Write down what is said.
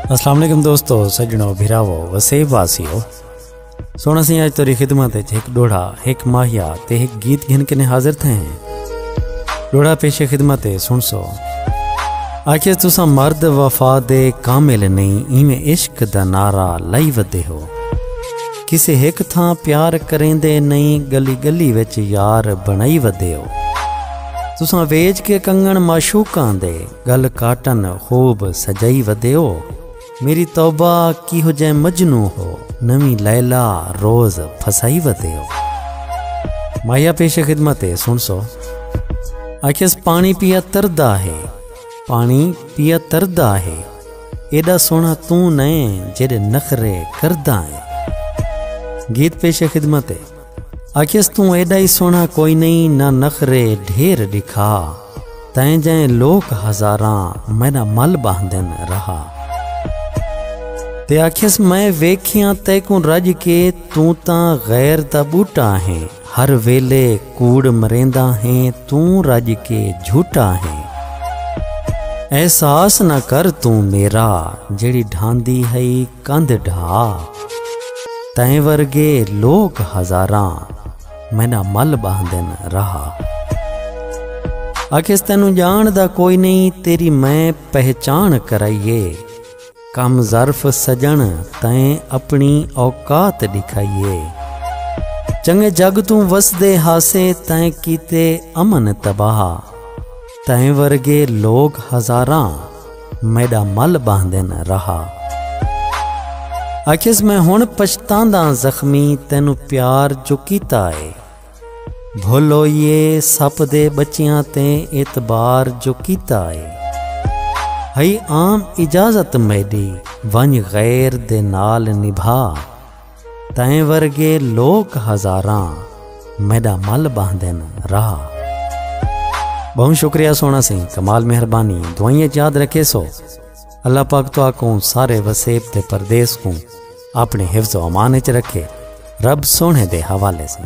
السلام علیکم دوستو سجنو بھراو وسیب واسیو سونا سی آج توری خدمت ایک ڈوڑا ایک ماہیا تے ایک گیت گھن کے حاضر تھے ہیں ڈوڑا پیش خدمت سن سو آکھے تسا مرد وفا دے کامل نہیں ایویں عشق دا نعرہ لائی ودے ہو کسے ہک تھاں پیار کریندے نئیں گلی گلی وچ یار بݨائی ودے او تساں ویج کے کنگن معشوقاں دے گل کاٹن خوب سجائی ودے او میری توبہ کیہو جے مجنو ہو نویں لیلا روز پھسائی ودے او مایا پیش خدمت ہے سن سو آکھیس پانی پیا تردا ہے پانی پیا تردا ہے ایڈا سونا توں نئیں جیڈے نخرے کرداں اے گیت پیش خدمت اے آکھیس توں ایڈا ہی سونا کوئی نئیں نہ نخرے ڈھیر ڈکھا تائیں جائیں لوک ہزاراں مینا مل باہندن رہا تے آکھیس میں ویکھیاں تیکوں رج کے توں تاں غیر دا بوٹا ہیں ہر ویلے کوڑ مریندا ہیں توں رج کے جھوٹا ہیں احساس نہ کر توں میرا جیڑی ڈھاندی ہئی کندھ ڈھا تیں ورگے لوک ہزاراں مینا مل باندن رہا اکھیس تینوں جان دا کوئی نہیں تیری میں پہچان کرائیے کم ظرف سجݨ تئیں اپݨی اوقات ݙکھائی اے چنڳے جڳ توں وسدے ہاسے تئیں کیتے امن تباہ تئیں ورگے لوک ہزاراں میݙا مل ٻاہندن رہا آکھیس میں ہݨ پچھتانداں زخمی تینوں پیار جو کیتا اے بھولویے سپ دے بچیاں تے اعتبار جو کیتا اے ہئی عام اجازت میڈی ونج غیر دے نال نبھا تیں ورگے لوک ہزاراں میڈا مل باندھن رہا بہوں شکریہ سونا سی کمال مہربانی دوائیں یاد رکھے سو اللہ پاک تو آکوں سارے وسیب تے پردیس کوں اپنی حفظ و امان اچ رکھے رب سوہنے دے حوالے سن۔